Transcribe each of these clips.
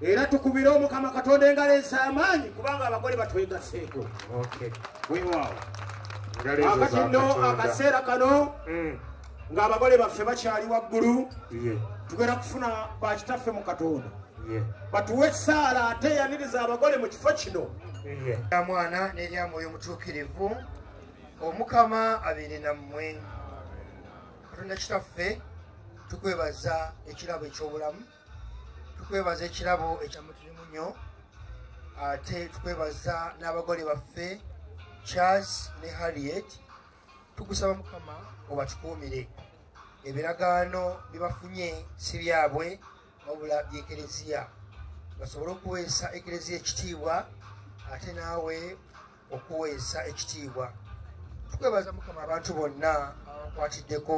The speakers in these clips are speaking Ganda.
era tukubire omukama katonda engalo ez'amaanyi kubanga abagole batwegaseeko wewaawo akati nno akaseera kano mm. ng'abagole baffe bakyali waggulu tugenda kufuna bakitaffe mu katonda batuwe esaala ate yaniriza abagole mu kifo kino mwana n'erya mwoyo mutuukirivu omukama abeere nammwe katonda kitaffe tukwebaza ekirabo eky'obulamu tukwebaza ekirabo ekyamutirimu nnyo ate tukwebaza n'abagole baffe charles ne harriet tukusaba mukama obatukuumire ebiragaano bibafunye si byabwe wabula byekereziya basobole okuweesa ekereziya ekitiibwa ate naawe okuweesa ekitiibwa tukwebaza mukama abantu bonna abakwatiddeko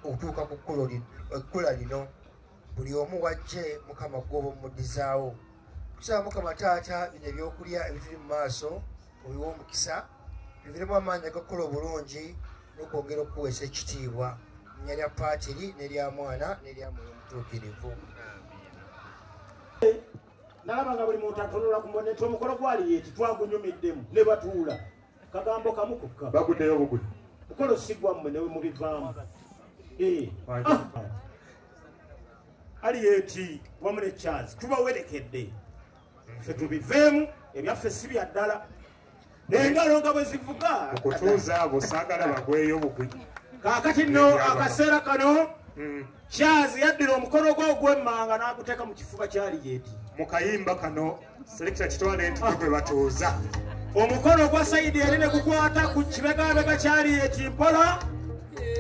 okutuuka ku kkula lino buli omu wajje mukama gwoba omudizaawo tusaba mukama taata bino ebyokulya ebituli mu maaso obiwa omukisa biviremu amaanyi agakukola obulungi nokwongera okukuweesa ekitiibwa nya lya paatiri nerya mwana nerya mwoyo omutuukirivu nalaba nga buli muntu atunula ku mboneto omukolo gwali yeti twagunyumiddemu ne batuula kagambo kamu kokka baguddeyo buguli mukolo si gwammwe newe mubivaamu eh. ah. ali eti wamu ne chance tubawerekedde fe tubiveemu ebyaffe si bya ddala nengalo nga bwe zivuga okutuuza abo saagala bagweyo bugwi kaakati no akaseera kano hmm. kyazi yaddira omukono gwe ogwemmanga n'aguteeka mu kifuba kyali yeti mu kayimba kano Selector kitwale nti gwe batuuza. Omukono gwa Saidi eri ne gukwata ku kibegabega kyali eti mpola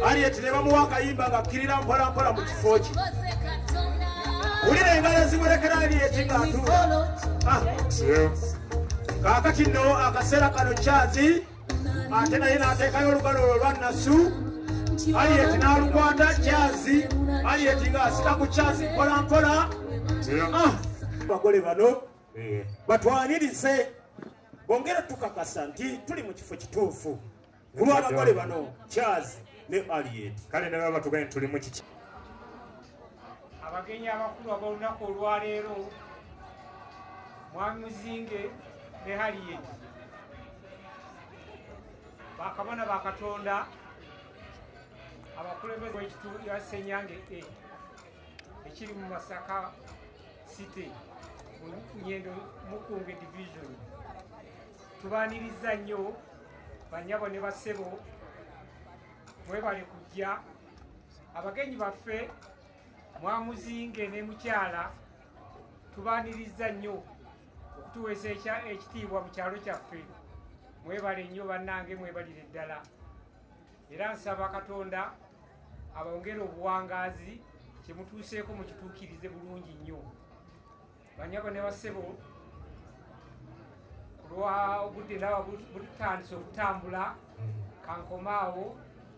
ali eti ne bamuwa akayimba ng'akkirira mpola mpola mu kifo kye. Wulira engalo ezimurekera ali eti ng'atuula. Ah, kaakati nno akaseera kano kyazi. ate naye n'ateekayo olugalo olwo lwa nasu aliyeti n'alukwata kyazi aliyeti ng'asika ku kyazi mpola mpola ah! bagole bano batwanirize bongere tukakasa nti tuli mu kifo kituufu kulwabagole bano kyazi ne aliyeti kale ne baba tugaye tuli mu kiki abagenyi abakulu ab'olunaku olwaleero mwami muzinge ne haliyeti bakabona ba katonda abakulembeze wekitundu ya senyange e ekiri mu masaka city nyendo mukunge division tubaniriza nnyo banyabo ne basebo mwebale kujja abagenyi baffe mwamuzinge ne mukyala tubaniriza nnyo okutuweesa ekya ekitiibwa mu kyalo kyaffe mwebale nnyo bannange mwebalire ddala era nsaba katonda abongere obuwangaazi kyemutuuseeko mukituukirize bulungi nnyo banyabo ne basebo kulwa obudde ndaba butandise okutambula kankomaawo